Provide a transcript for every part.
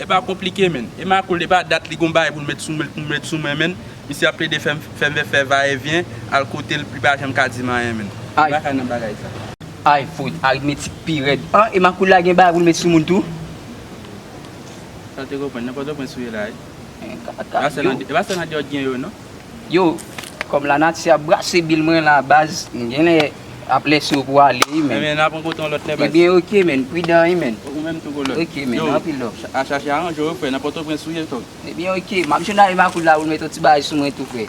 Epa konplike menn. E makoul epa dat li gon bagay poul met sou menl poum met sou mwen menn misye ap plede fèm fèm vè fè va e vyen al kotel li pa janm ka dim anyen menn gen bagay nan bagay sa. Ayy fout aritmetik pi rèd. An e makoul la gen bagay poul met sou moun tou. Sa te konprann nan pòtoprens ou ye la wi. Epa sèl andeyo t gen yo non. Yo, kòm lanati ap brase bil mwen la baz, m genlè ap lèse w pou w ale wi menn. Ebyen ok menn, pridan wi menn. Ok menn, anpil love. Ebyen ok, m ap jwenn ale makout la pou m met yon ti bagay sou mwen tou frè.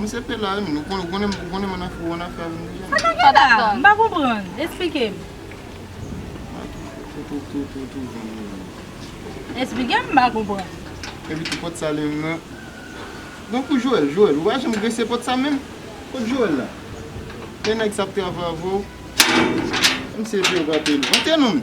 Misye te la wi moun, ou konnen m an afè avèk misye. Ata ki la? M pa konprann, esplike m. Esplike m, m pa konprann. Epi tou pòt sale m nan. Donk ou Joel, Joel, ou pa janm grese pòt sa menm? Kot Joel la? Lè nèg sa ap travay avè w. Misye di yo pa peye l. Monte non!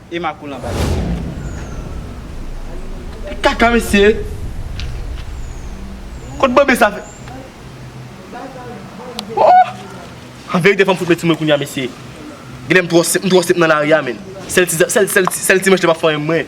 e makoul anba li. Ki kaka mesye! Kot bebe sa fè. Ooh! An verite fòm fout mèt sou mwen kounya mesye. Genlè m twò senp nan lari a menn. Sèl ti manch li pap fanyen mwen.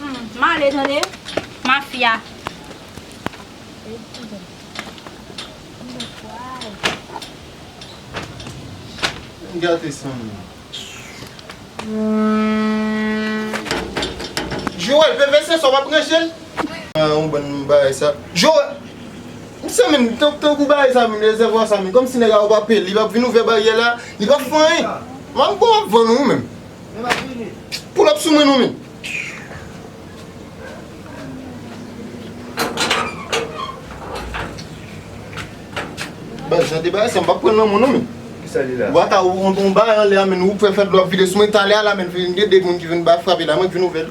Humm m ale tande mafya. Vin gate san m nan. Joel veve se sa w ap ranje l? An yon bann bagay sa. Joel! Mesye men tankou bagay sa men rezèvwa sa men kòmsi nèg la ou pa peye l li pa vin ouvè baryè la li pa fè anyen. M ap vann ou menm. Poul ap sou mwen nou men. Baz jan de bagay sa m pa pran nan mwen nou men. Ki sa li la? Ou ata ou an ba an lè a men ou fè fè dlo ap vide sou mwen talè a la men vin gen de moun ki vin ba frape la mwen k vin ouvè l.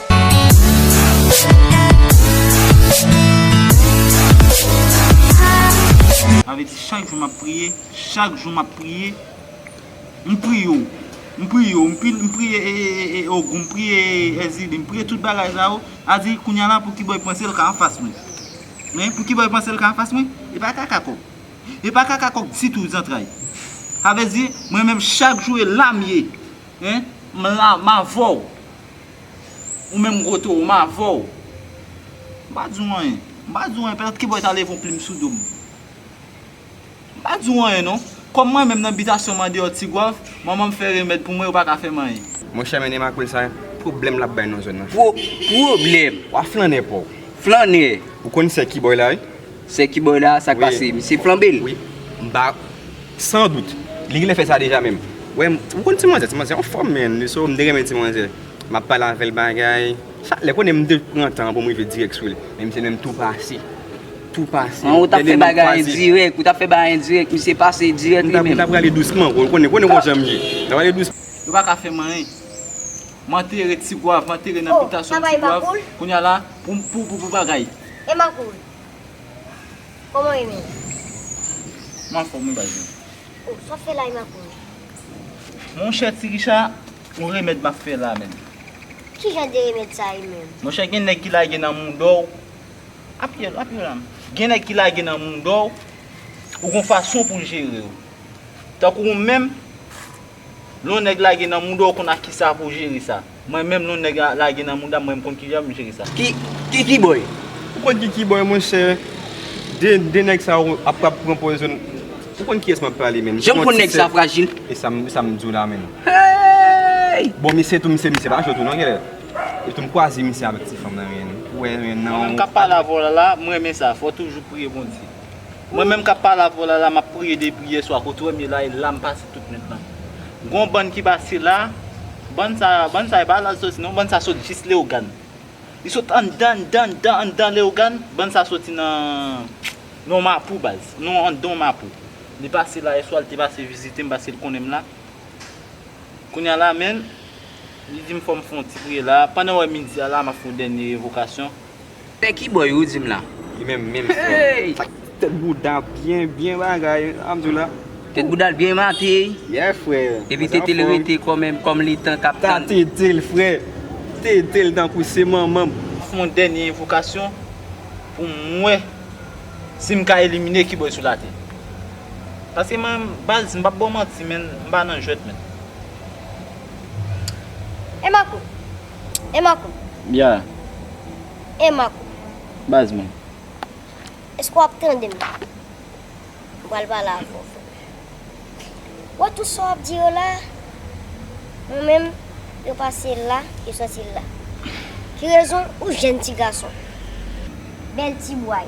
Sa vle di chak jou map priye, chak jou map priye, m priye w, m priye w, m priye ee ogou, m priye ee èzili, m priye tout bagay sa yo, sa vle di kounya la poukibo y panse l ka anfas mwen? Men, poukibo y panse l ka anfas mwen? E pa kaka kòk. E pa kaka kòk ditou zantray. Sa vle di mwen menm chak jou e la m ye. Hein, m la, m avè w. Ou menm gwo towo m avè w. M pa di w anyen. M pa di w anyen pètèt kiboy ta leve yon plim sou do m. M pa di w anyen non. Kòm mwen menm nan bitasyon m andeyò Tigwav, manman m fè remèd pou mwen yo pa ka fè m anyen. Monchè mennen makoul sa pwoblèm l ap bay nan zòn nan. Pwoblèm? W a flannè pa w. Flannè! Ou konn sè kiboy la wi. Sè kiboy la sak pase misye flanbe l. Wi m pa San dout Li gnlè fè sa deja menm wè m ou konn ti manzè ti manzè anfòm menn li so m te renmen ti manzè map pale avèl bagay chak lè konnen m te pran tan pou m rive dirèk sou li men misye menm tou pase tou pase An ou tap fè bagay endirèk ou tap fè bagay endirèk misye pase dirèk li menm. M ta prale dousman ou konnen konnen konjan m ye m ta prale dousman. Yo paka fè m anyen m antere ti gwav m antere nan bitasyon ti gwav kounya la pou pou pou bagay. Koman ou ye menm? M anfòm wi baz mwen. Oh, sa w ap fè la e m ap wè. Monchè ti Richa, yon remèd m ap fè la menm. Ki jan de remèd sa ye menm? Monchè gen nèg ki lage nan mouda w, apiye l, apiye l la m. Gen nèg ki lage nan mouda w, ou gen yon fason pou l jere w. Tankou ou menm, Lon nèg lage nan mouda ou konn ak kisa pou jere sa. Mwen menm lon nèg lage nan moudam mwen mkonn kijan pou jere sa. Ki Kiki boy? Ou konn Kiki boy monchè? De nèg sa yo ap ap pran pwazon Ou konn kiyès map pale menm? Janm konn nèg sa frajil. Esam diw la menm. Heyy! Bon misye tou misye misye pa jwe tou non genlè. E tou mkwaze misye avèk ti fanm nan menl. Ou wè nan. Ou menm kap pale avè w la la, mrenmen sa. Fòw toujou priye Bondye. Mwen menm kap pale avèw la la map priye depi yè swa kot ou wèm ye la e lam pase tout nwit lan gon bann ki pase la bann sa bann sa epa la soti non bann sa sot jis leogan li sot anndan anndan anndan anndan leogan bann sa soti nan mapou baz nan anndan mapou li pase la yè swa li te pase vizitem paske li konnenm la kounya la menn li dim fòm fon ti priye la pandan wè midi a la map fon dènye revokasyon. Pè kiboy ou dim la. Li menm menm frèm. Tèt bouda byen byen bagay Alhamdoulilah. Tèt boudal byen mate. Yeah frè. Epi tetel rete kòm li tan kap tann. Sa tetel frè. Tetel tankou se manmanm. Fè yon dènye envokasyon pou m wè si m ka elimine kiboy sou latè. Paske man baz m pap ba w manti menn m pa nan jwèt menn. Emako. E Marco. Ya. E Marco. Baz mwen. Eske w ap tande m? M pral pale avè w frè m. Ou wè tout sa w ap di yo la a? Mwen menm, yo pase la, yo soti la. Ki rezon ou jèn ti gason. Bèl ti bway.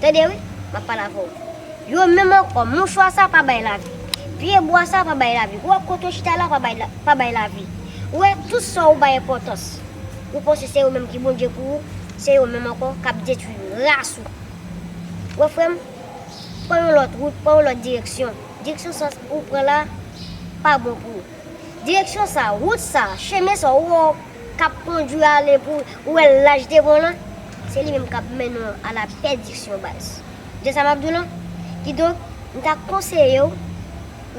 Tande wi, m ap pale avè w. Yo menm ankò, mouchwa sa a pa bay lavi. Pye bwa sa a pa bay lavi. Ou wè kote ou chita la a pa bay lavi. Ou wè tout sa ou bay enpòtans. Ou panse se yo menm ki Bondye pou ou, se yo menm ankò k ap detwi ras ou. Ou wè frè m, pran yon lòt wout, pran yon lòt direksyon. Direksyon sa a ou pran la a pa bon pou ou. Direksyon sa a, wout sa a, chemen sa a ou wè w. kap kondwi ale pou ou wè laj te bon lan, se li menm kap mennen w a la pèdiksyon baz. Ou tande sa map di w lan? Kidonk, m ta konseye w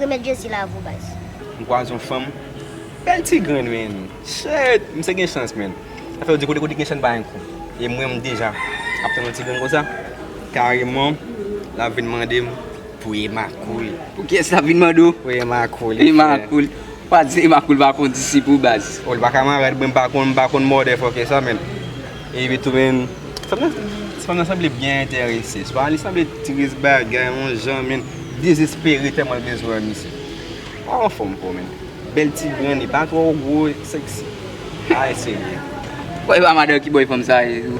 remèt Jezi la avou baz. M kwaze yon fanm bèl ti grenn men chet m se gen chans men afè yo di kote kote gen chen pa gen kou e mwen m deja ap tann yon ti grenn konsa kareman lap vin mande m pou ema koul pou kiyès lap vin mande w pou ema koul ema koul. Pa di Emma poul pa konn disip ou baz. Oh li pa kamarad mwen mpa konn mpa konn mòde fòkè sa menm epi tou menm fanm nan ti fanm nan sanble byen entèrese swa li sanble tris bagay on jan menm dezespere tèlman l bezwen an misye pa anfòm fò menm bèl ti grenn li pa twò gwo sexy ay senyè. Bon epa madanw ki boy fanm sa ye tou.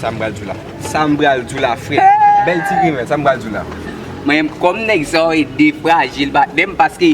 Sam pral diw la Sam pral diw la frè Bèl ti grenn Sam pral diw la. Mwen menm kòm nèg sa yo e defrajil patnèm paske.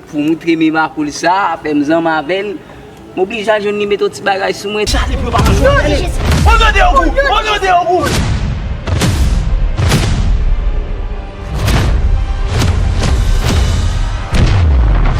Pou moutre me makoul sa, fè m zanm avè l, m oblije al jwenn li met yon ti bagay sou mwen. Chale pou yo pa manj ou a, chale! O non de Ogou! O non de Ogou!